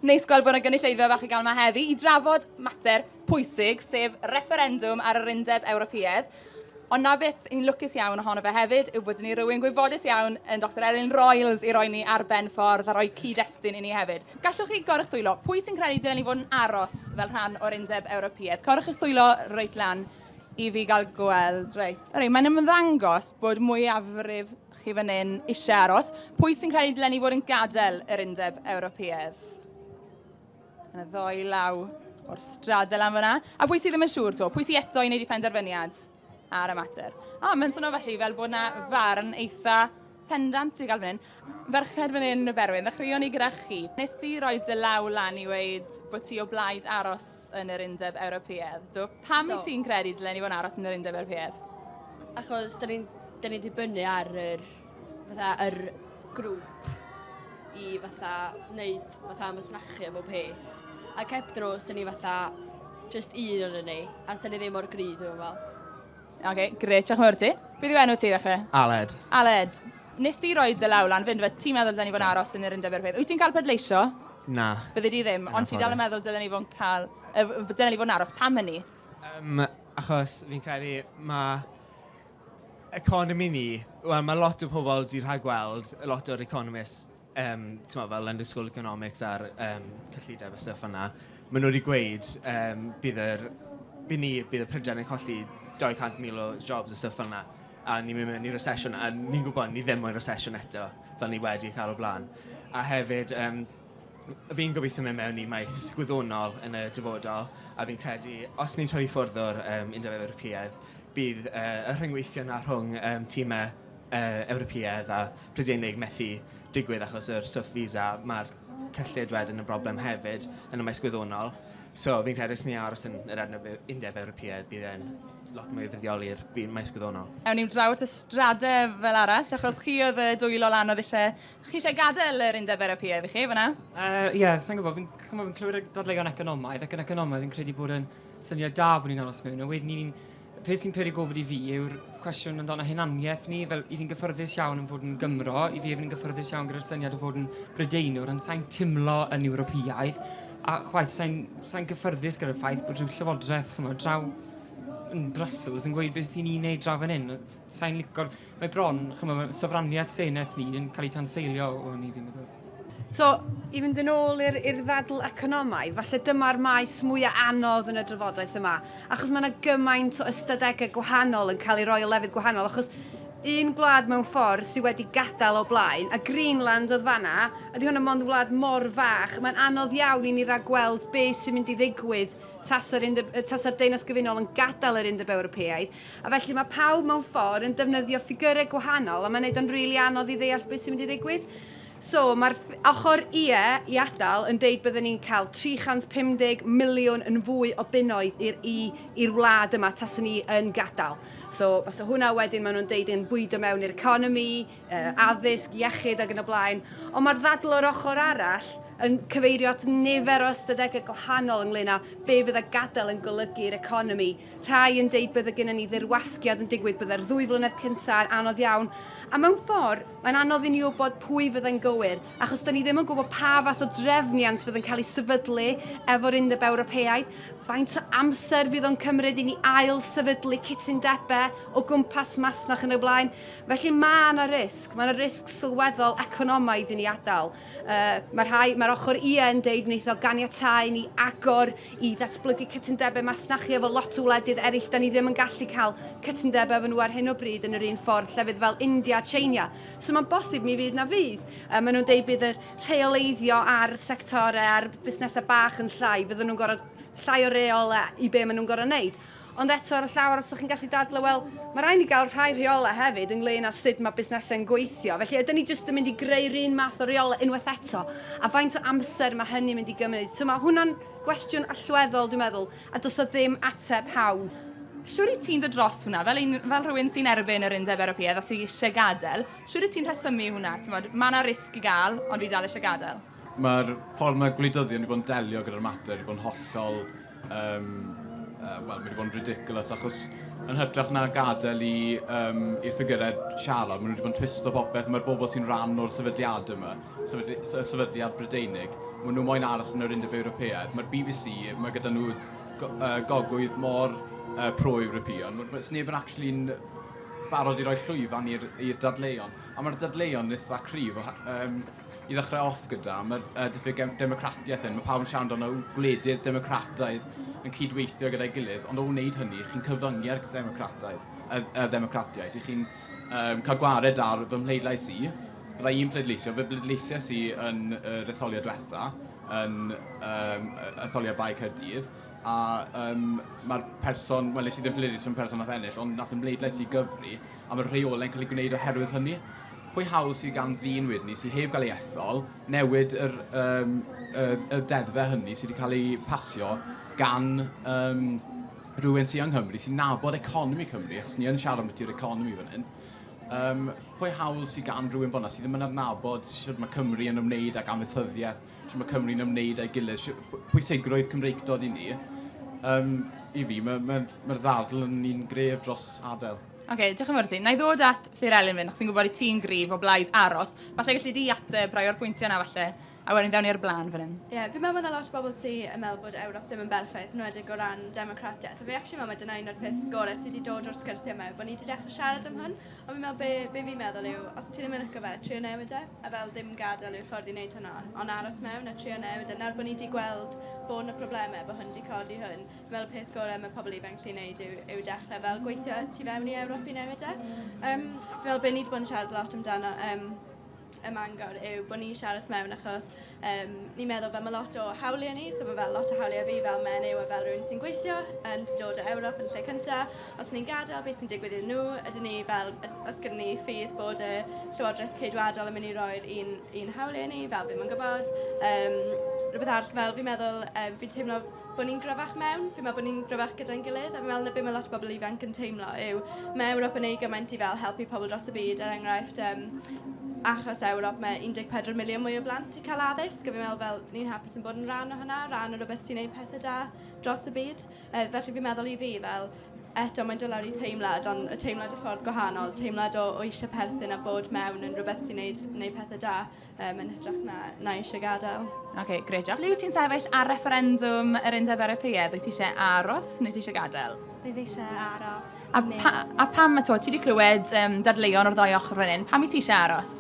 Neis gweld bod yna gynulleidfa fach i gael yma heddi i drafod mater pwysig, sef refferendwm ar yr Undeb Ewropeaidd. Ond na beth yn lwcus iawn ohono fe hefyd yw bod ni rhywun gwybodus iawn yn Dr Elin Royals i roi ni ar ben ffordd a rhoi cyd-destun i ni hefyd. Gallwch chi gorwch dwylo? Pwy sy'n credu dylen ni fod yn aros fel rhan o'r Undeb Ewropeaidd? Corwch eich dwylo reit lan i fi gael gweld. Reit, reit mae'n ymddangos bod mwyafrif chi fan hyn eisiau aros. Pwy sy'n credu dylen ni fod yn gadael yr undeb Ewropeaidd? Yna ddoi law o'r stradel am fyna. A pwy sydd ddim yn siŵr to? Pwy sydd eto i wneud i penderfyniad ar y mater? A, mae'n swnio felly fel bod yna farn eitha pendant i gael fan hyn. Ferched fan hyn y berwyn, ddechreuon ni gyda chi. Nes ti roi dy law lan i weid bod ti o blaid aros yn yr undeb Ewropeaidd. Do, pam i ti'n credu dylen ni fod yn aros yn yr undeb Ewropeaidd? Achos da ni'n da ni dibynnu ar yr, fatha, yr grŵp i fatha wneud fatha masnachu efo peth. A cep nhw, os da ni fatha just un o'n ni, a os da ni ddim o'r gryd, dwi'n fel. Oce, okay, gret, diolch yn fawr ti. Beth yw enw ti ddechrau? Aled. Aled, nes ti roi dy law lan, fynd fe, ti'n meddwl dylen ni fod yn aros yn yr undeb erbyn. Wyt ti'n cael pedleisio? Na. Bydde di ddim, ond ti dal yn meddwl dylen ni fod yn cael, dylen ni fod yn aros, pam hynny? Um, Achos fi'n credu ma' economi ni... wel ma' lot o pobl 'di rhagweld lot o'r economists yym timod fel London School of Economics a'r yym cyllideb a stwff fel 'na. Maen nhw 'di gweud yym bydd yr... by' ni... bydd y Prydain yn colli dou cant mil o jobs a stwff fel 'na a ni'n mynd mewn i recession a ni'n gwybod ni ddim mewn i recession eto fel ni wedi cael o'r blaen. A hefyd yym... Fi'n gobeithio mynd mewn i maes gwyddonol yn y dyfodol a fi'n credu os ni'n torri ffwrdd o'r yym Undeb Ewropeaidd bydd yy y rhyngweithio 'na rhwng yym timau yy Ewropeaidd a Prydeinig methu digwydd achos yr stwff visa. Ma'r cyllid wedyn yn broblem hefyd yn y maes gwyddonol. So fi'n credu os ni'n aros yn yr Undeb Ew- Undeb Ewropeaidd bydd e'n lot mwy o fuddioli i'r bu- maes gwyddonol. Awn ni draw at y stradef fel arall achos chi oedd y dwylo lan oedd isie Chi eisiau gadael yr Undeb Ewropeaidd i chi, fyna? Uh, ie, yeah, sa'n gwybod, fi'n chymod, fi'n clywed y dadleuon economaidd ac yn economaidd yn credu bod yn syniad da bod ni'n aros mewn. A wedyn ni'n, peth sy'n peri gofod i fi yw'r cwestiwn amdano hunaniaeth ni, fel i fi'n gyffyrddus iawn yn fod yn Gymro, i fi fi'n gyffyrddus iawn gyda'r syniad o fod yn Brydeinwr, ond sa'n timlo yn Ewropeaidd, a chwaith sa'n sa gyffyrddus gyda'r ffaith bod rhyw llywodraeth, chymod, draw yn Brussels yn gweud beth i ni'n neud draw fan hyn. Sa'n licor, Mae bron, chymod, mae sofraniaeth senedd ni yn cael ei tanseilio o hynny, fi'n meddwl. So, i fynd yn ôl i'r ddadl economaidd, falle dyma'r maes mwyaf anodd yn y drafodaeth yma, achos mae yna gymaint o ystadegau gwahanol yn cael ei roi o lefydd gwahanol, achos un gwlad mewn ffordd sydd wedi gadael o blaen, a Greenland oedd fanna, ydy hwn yn mond wlad mor fach, mae'n anodd iawn i ni ragweld beth sy'n mynd i ddigwydd tasa'r Deyrnas Gyfunol yn gadael yr Undeb Ewropeaidd. A felly mae pawb mewn ffordd yn defnyddio ffigyrau gwahanol a mae'n neud o'n rili anodd i ddeall beth sy'n mynd i ddigwydd. So, mae'r ochr ie i adael yn deud bydden ni'n cael 350 miliwn yn fwy o bunnoedd i'r i, i'r wlad yma tasa ni yn gadael. So, fasa hwnna wedyn maen nhw'n deud yn bwydo mewn i'r economi, uh, addysg, iechyd ac yn y blaen. Ond mae'r ddadl o'r ochr arall yn cyfeirio at nifer o ystadegau gwahanol ynglyn â be fydd y gadael yn golygu i'r economi Rhai yn deud bydde gennym ni ddirwasgiad yn digwydd, bydde'r ddwy flynedd cyntaf yn anodd iawn, a mewn ffordd, mae'n anodd i ni wybod pwy fyddai'n gywir, achos dan ni ddim yn gwybod pa fath o drefniant fydd yn cael ei sefydlu efo'r Undeb Ewropeaidd, faint o amser fydd o'n cymryd i ni ail-sefydlu cytundebau o gwmpas masnach yn y blaen. Felly mae yna risg, mae yna risg sylweddol economaidd i ni adael. Yy, mae rhai, mae'r ochr ie yn deud wneith o ganiatáu ni agor i ddatblygu cytundebau masnachu efo lot o wledydd eraill. Da ni ddim yn gallu cael cytundebau efo nhw ar hyn o bryd yn yr un ffordd llefydd fel India a China. So mae'n bosib mi fydd na fydd. Yy, maen nhw'n deud bydd y rheoleiddio ar sectorau a'r busnesau bach yn llai. Fydden nhw'n gorfod llai o reol i be maen nhw'n gorfod wneud. Ond eto ar y llaw arall 'sa chi'n gallu dadlau, wel, mae rhaid ni gael rhai rheolau hefyd ynglŷn â sut mae busnesau'n gweithio. Felly ydyn ni jyst yn mynd i greu'r un math o reolau unwaith eto? A faint o amser mae hynny'n mynd i gymryd? So mae hwnna'n gwestiwn allweddol dwi'n meddwl, a does o ddim ateb hawdd. Siŵr i ti'n dod dros hwnna, fel, un, fel rhywun sy'n erbyn yr Undeb Ewropeaidd a sy'n eisiau gadael, siŵr i ti'n rhesymu hwnna? Mae yna risg i gael, ond fi dal eisiau gadael. Mae'r ffordd mae gwleidyddion wedi bod yn delio gyda'r mater wedi bod yn hollol... Um, uh, Wel, mae wedi bod yn ridiculous achos yn hytrach na gadael i, um, i'r ffigurau siarad, maen nhw wedi bod yn twisto popeth, mae'r bobl sy'n rhan o'r sefydliad yma, sefydli, sefydliad Brydeinig, maen nhw moyn aros yn yr Undeb Ewropeaidd. Mae'r BBC, mae gyda nhw go, uh, gogwydd mor uh, pro-European, mae neb yn actually'n barod i roi llwyfan i'r dadleuon. A mae'r dadleuon eitha cryf, um, i ddechrau off gyda, mae'r uh, diffyg democratiaeth hyn, mae pawb yn siarad amdano gwledydd democrataidd yn cydweithio gyda'i gilydd, ond o wneud hynny, chi'n cyfyngu'r democrataidd, y, y democratiaeth, i chi'n um, cael gwared ar fy mhleidlais i, fydda i'n pleidleisio, fy bleidleisio si yn y retholiad diwetha, yn um, etholiad Bae Cyrdydd, a um, mae'r person, wel nes i ddim pleidleisio yn person nath ennill, ond nath ymleidlais i gyfri, a mae'r rheolau'n cael eu gwneud oherwydd hynny. Pwy hawl sydd gan ddyn wedyn ni sydd heb gael ei ethol newid yr, um, y, y deddfe hynny sydd wedi cael ei pasio gan um, rhywun sydd yng Nghymru sy'n nabod economi Cymru, achos ni yn siarad am ydy'r economi fan hyn. Um, pwy hawl sydd gan rhywun fyna sydd ddim yn adnabod sydd mae Cymru yn ymwneud ag amaethyddiaeth sut mae Cymru'n ymwneud â'i gilydd, pwysigrwydd Cymreictod i ni. Um, I fi, mae'r ma, ma, ddadl yn un gref dros adael. Oce, okay, diolch yn fawr ti. Na i ddod at Fyr Elin fynd, achos fi'n gwybod i ti'n grif o blaid aros. Falle gallu di ateb rai o'r pwyntiau yna falle, a wedyn ddewn i'r blaen fan hyn. Ie, yeah, fi'n meddwl bod yna lot o bobl sy'n yn meddwl bod Ewrop ddim yn berffaith, yn wedig o ran democratiaeth. A fi actually meddwl mae dyna un o'r peth gorau sydd wedi dod o'r sgyrsiau yma, bod ni wedi dechrau siarad am hwn. Ond fi'n meddwl be, be fi'n meddwl yw, os ti ddim yn lyco fe, trio newid e. a fel dim gadael yw'r ffordd i wneud hwnna, ond aros mewn a trio newid, a nawr bod ni 'di gweld bod 'na problemau, bod hwn 'di codi hwn, fi'n meddwl y peth gorau mae pobl ifanc gallu wneud yw, yw dechrau fel gweithio tu fewn i Ewrop i newid e. Um, fi'n meddwl bod ni wedi bod yn siarad lot amdano um, y mangor yw bod ni eisiau aros mewn achos Yym, ni'n meddwl fel mae lot o hawliau ni, so mae fel lot o hawliau fi fel menyw a fel rhywun sy'n gweithio, yym, 'di dod o Ewrop yn y lle cynta. Os ni'n gadael, beth sy'n digwydd iddyn nhw? Ydyn ni fel... yd- oes gyda ni ffydd bod y Llywodraeth Ceidwadol yn mynd i roi'r un un hawliau i ni? Fel, fi'm yn gwybod. Yym, rhywbeth arall, fel fi'n meddwl... yym, fi'n teimlo... bod ni'n gryfach mewn, fi'n meddwl bod ni'n gryfach gyda'n gilydd, a fi'n meddwl na beth mae lot o bobl ifanc yn teimlo yw, mae Ewrop yn ei gymaint i fel helpu pobl dros y byd, er enghraifft, um, achos Ewrop mae 14 miliwn mwy o blant yn cael addysg, a fi'n meddwl fel ni'n hapus yn bod yn rhan o hynna, rhan o rhywbeth sy'n gwneud pethau da dros y byd. Uh, felly fi'n meddwl i fi fel, eto mae'n dod lawr i teimlad, ond y teimlad y ffordd gwahanol, teimlad o, o eisiau perthyn a bod mewn yn rhywbeth sy'n gwneud, gwneud pethau da. um, yn hytrach na, na eisiau gadael. Oce, okay, gred, diolch. Ble ti'n sefyll ar referendwm yr undeb Ewropeaidd? Wyt ti eisiau aros neu ti eisiau gadael? Fe fi eisiau aros. A, pa, a pam, a to, ti wedi clywed um, dadleuon o'r ddoi ochr fan hyn, pam i ti eisiau aros?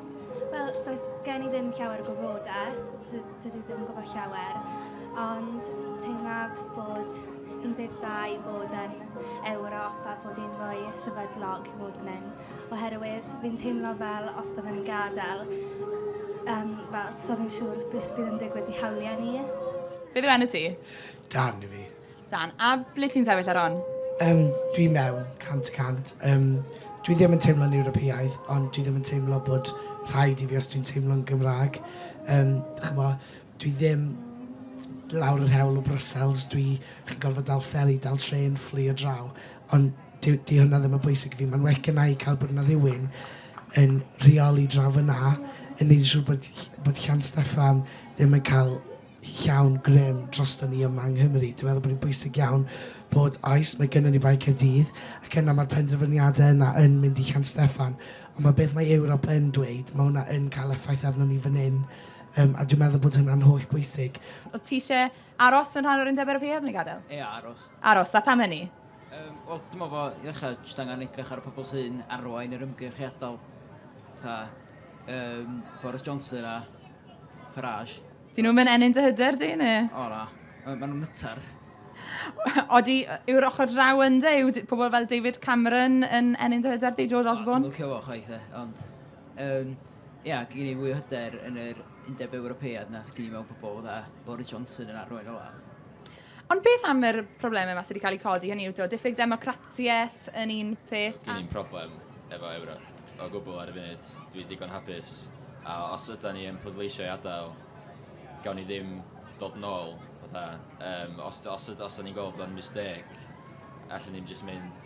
Wel, does gen i ddim llawer o gwybodaeth, dydw i ddim yn gwybod llawer, ond teimlaf bod yn beth dda i bod yn Ewrop a bod yn fwy sefydlog i fod yn hyn. oherwydd fi'n teimlo fel os byddwn i'n gadael um, fel, so fi'n siŵr beth bydd yn digwydd i hawliau ni. Beth yw enw ti? Dan i fi. Dan, a ble ti'n sefyll ar hon? Um, dwi mewn, cant y cant. Um, dwi ddim yn teimlo'n Ewropeaidd, ond dwi ddim yn teimlo bod rhaid i fi os dwi'n teimlo'n Gymraeg. Um, chymod, Dwi ddim lawr yr hewl o Brussels, dwi yn gorfod dal fferi, dal trên, fflio draw. Ond dyw, dyw hwnna ddim yn bwysig i fi. Mae'n well gynna i cael bod yna rhywun yn rheoli draw fyna, yn gwneud yn siŵr bod, bod Llan Steffan ddim yn cael llawn grym drosto ni yma yng Nghymru. Dwi'n meddwl bod hi'n bwysig iawn bod, oes, mae gennym ni Bae Caerdydd, ac yna mae'r penderfyniadau yna yn mynd i Llan Steffan. Ond mae beth mae Ewrop yn dweud, mae hwnna yn cael effaith arno ni fan hyn. Um, a dwi'n meddwl bod hwnna'n holl bwysig. Oedd ti eisiau aros yn rhan o'r undeb Ewropeaidd neu gadael? Ie, aros. Aros, a pam hynny? Um, Wel, dyma fo, i ddechrau, jyst angen edrych ar y pobl sy'n arwain yr ymgyrch i adael. Tha, um, Boris Johnson a Farage. Dyn nhw'n mynd ennyn dy hyder di, neu? O, na. Maen nhw'n nytar. Odi, yw'r ochr draw ynddo, yw pobl fel David Cameron yn ennyn dy hyder di, George Osborne? O, dwi'n licio fo, chwaith, e, ond... Um, Ia, gen i fwy o hyder yn yr Undeb Ewropeaidd na sgyn i mewn pobl dda Boris Johnson yn arwain y wlad. Ond beth am yr problemau yma sydd wedi cael eu codi, hynny yw to, diffyg democratiaeth yn un peth? Gen i'n problem efo Ewrop o gwbl ar y funud, dwi digon hapus, a os yda ni yn pleidleisio i adael, gawn ni ddim dod nôl, fatha, um, os, os, os, os ni'n gweld bod o'n mistake, allan ni'n just mynd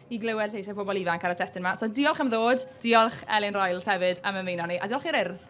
i glywed lleisiau pobl ifanc ar y testyn yma. So diolch am ddod, diolch Elin Royals hefyd am ymuno ni, a diolch i'r urdd.